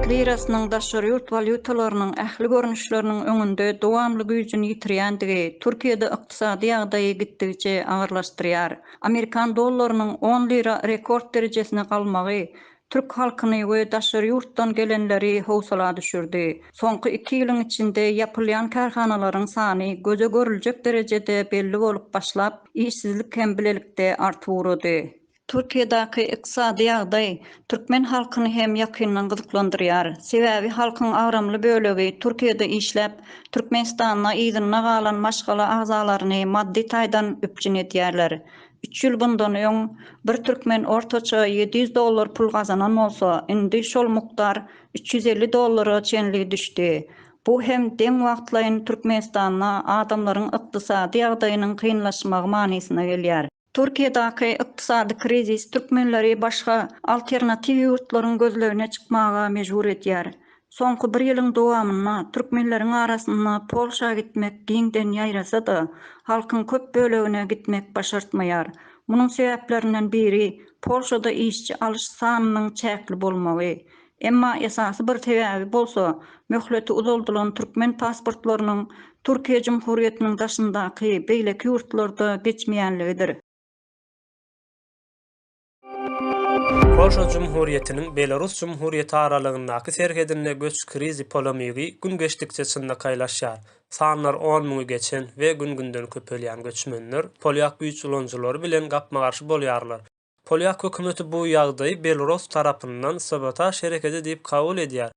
Türk lirasynyň daşary ýurt walýutalarynyň ähli görnüşleriniň öňünde dowamly güýjüni ýitirýändigi Türkiýede ykdysady ýagdaýy gitdigiçe agyrlaşdyrýar. Amerikan dollarynyň on lira rekord derejesine galmagy türk halkyny we daşary ýurtdan gelenleri howsala düşürdi. Soňky iki ýylyň içinde ýapylýan kärhanalaryň sany göze görüljek derejede belli bolup başlap, işsizlik hem bilelikde artyp ugrady. Türkiýedäki ykdysady ýagdaý türkmen halkyny hem ýakyndan gyzyklandyrýar. Sebäbi halkyň agramly bölegi Türkiýede işläp, Türkmenistanda yzynda galan maşgala agzalaryny maddy taýdan üpjün edýärler. Üç ýyl bundan öň bir türkmen ortaça ýedi ýüz dollar pul gazanan bolsa, indi şol mukdar üç ýüz elli dollara çenli düşdi. Bu hem deň wagtlaýyn Türkmenistanda adamlaryň ykdysady ýagdaýynyň kynlaşmagy manysyna gelýär. Türkiýedaky ykdysady krizis türkmenleri başga alternatiw ýurtlaryň gözlegine çykmaga mejbur edýär. Soňky bir ýylyň dowamynda türkmenleriň arasynda Polşa gitmek giňden ýaýrasa-da, halkyň köp bölegine gitmek başartmaýar. Munuň sebäplerinden biri Polşada işçi alyş sanynyň çäkli bolmagy. Emma esasy bir sebäbi bolsa, möhleti uzaldylan türkmen pasportlarynyň Türkiýe Jumhuriýetiniň daşyndaky beýleki ýurtlarda geçmeýänligidir. Polşa Jumhuriýetiniň Belarus Jumhuriýeti aralygyndaky serhedinde göç krizi polemigi gün geçdikçe çynlakaýlaşýar. Sanlar on müňi geçen we gün-günden köpelýän göçmenler polýak güýç ulanyjylary bilen gapma-garşy bolýarlar. Polýak hökümeti bu ýagdaýy Belarus tarapyndan sabotaž herekedi diýip kabul edýär.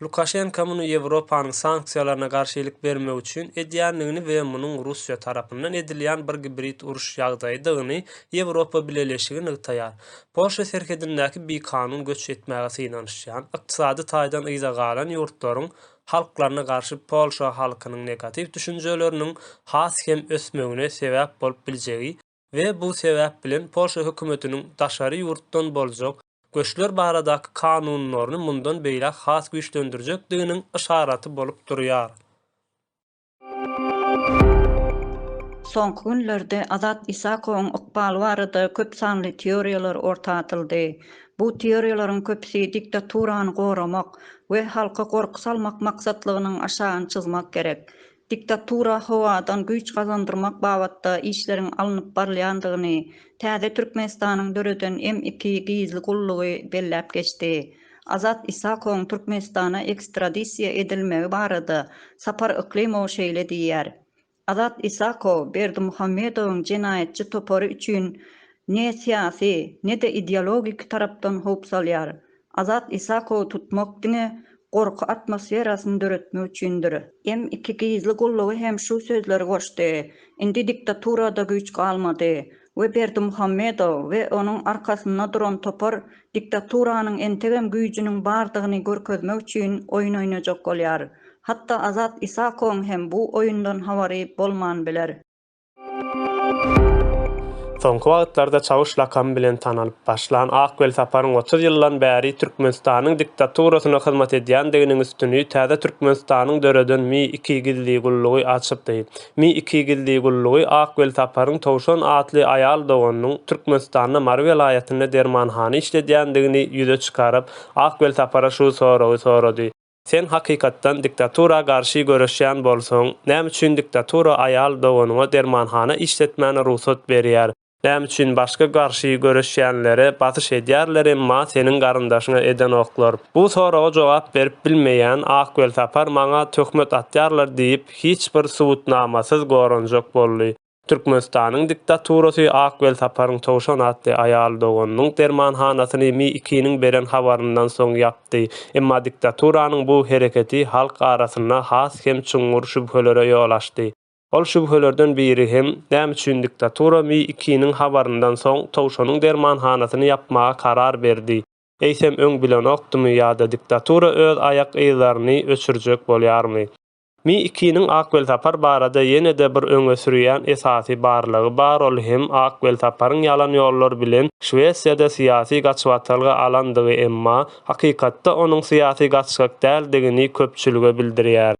Lukaşenka muny Ýewropanyň sanksiýalaryna garşy ilik bermek üçin edýändigini we munuň Russiýa tarapyndan edilýän bir gibrid uruş ýagdaýydygyny Ýewropa Bileleşigi nygtaýar. Polşa serhedindäki bikanun göç etmäge synanyşýan, ykdysady taýdan yza galan ýurtlaryň halklaryna garşy Polşa halkynyň negatiw düşünjeleriniň has hem ösmegine sebäp bolup biljegi we bu sebäp bilen Polşa hökümetiniň daşary ýurtdan boljak göçler baradaky kanunlaryny mundan beýläk has güýçlendirjekdiginiň yşaraty bolup durýar. Soňky günlerde Azat Isakowyň ykbaly barada köp sanly teoriýalar orta atyldy. Bu teoriýalaryň köpüsi diktaturany goramak we halka gorky salmak maksatlygynyň aşagyny çyzmak gerek. Diktatura howadan güýç gazandyrmak babatda işleriň alnyp barylýandygyny täze Türkmenistanyň döreden M iki gizli gullugy belläp geçdi. Azat Isakowyň Türkmenistana ekstradisiýa edilmegi barada Sapar Yklymow şeýle diýýär, Azat Isakow Berdimuhamedowyň jenaýatçy topary üçin ne syýasy, ne-de ideologik tarapdan howp salýar. Azat Isakowy tutmak diňe gorky atmosferasyny döretmek üçindir. M iki gizli gullugy hem şu sözleri goşdy, Indi diktaturada güýç galmady we Berdimuhamedow we onuň arkasynda duran topar diktaturanyň entegem güýjüniň bardygyny görkezmek üçin oýun oýnajak bolýar. Hatda Azat Isakowyň hem bu oýundan habary bolman biler. Soňky wagtlarda Çawuş lakamy bilen tanalyp başlan Ak Welsaparyň otuz ýyldan bäri Türkmenistanyň diktaturasyna hyzmat edýändiginiň üstüni täze Türkmenistanyň döreden Mi iki gizli gullugy açypdy. Mi iki gizli gullugy Ak Welsaparyň Towşan atly aýal doganynyň Türkmenistanda Mary welaýatynda dermanhana işledýändigini ýüze çykaryp, Ak Welsapara şu soragy sorady, Sen hakykatdan diktatura garşy göreşýän bolsaň, näme üçin diktatura aýal doganyňa dermanhana işletmäne rugsat berýär, näme üçin başga garşy göreşýänlere basyş edýärler emma seniň garyndaşyňa edenoklar? Bu soraga jogap berip bilmeýän Ak Welsapar maňa töhmet atýarlar diýip hiç bir subutnamasyz goranjak boldy. Türkmenistanyň diktaturasy Ak Welsaparyň Towşan atly aýal doganynyň dermanhanasyny MI-ikiniň beren habaryndan soň ýapdy. Emma diktaturanyň bu hereketi halk arasynda has hem çuňňur şübhelere ýol açdy. Ol şübhelerden biri hem, näme üçin diktatura MI-ikiniň habaryndan soň Towşanyň dermanhanasyny ýapmaga karar berdi? Eýsem öň bilenokdymy ýa-da diktatura öz aýak yzlaryny öçürjek bolýarmy? Mi ikiniň Ak Welsapar barada ýene-de bir öňe sürýän esasy barlygy bar ol hem Ak Welsaparyň ýalan ýollar bilen Şwesiýada syýasy gaçybatalga alandygy emma hakykatda onuň syýasy gaçgak däldigini köpçülige bildirýär.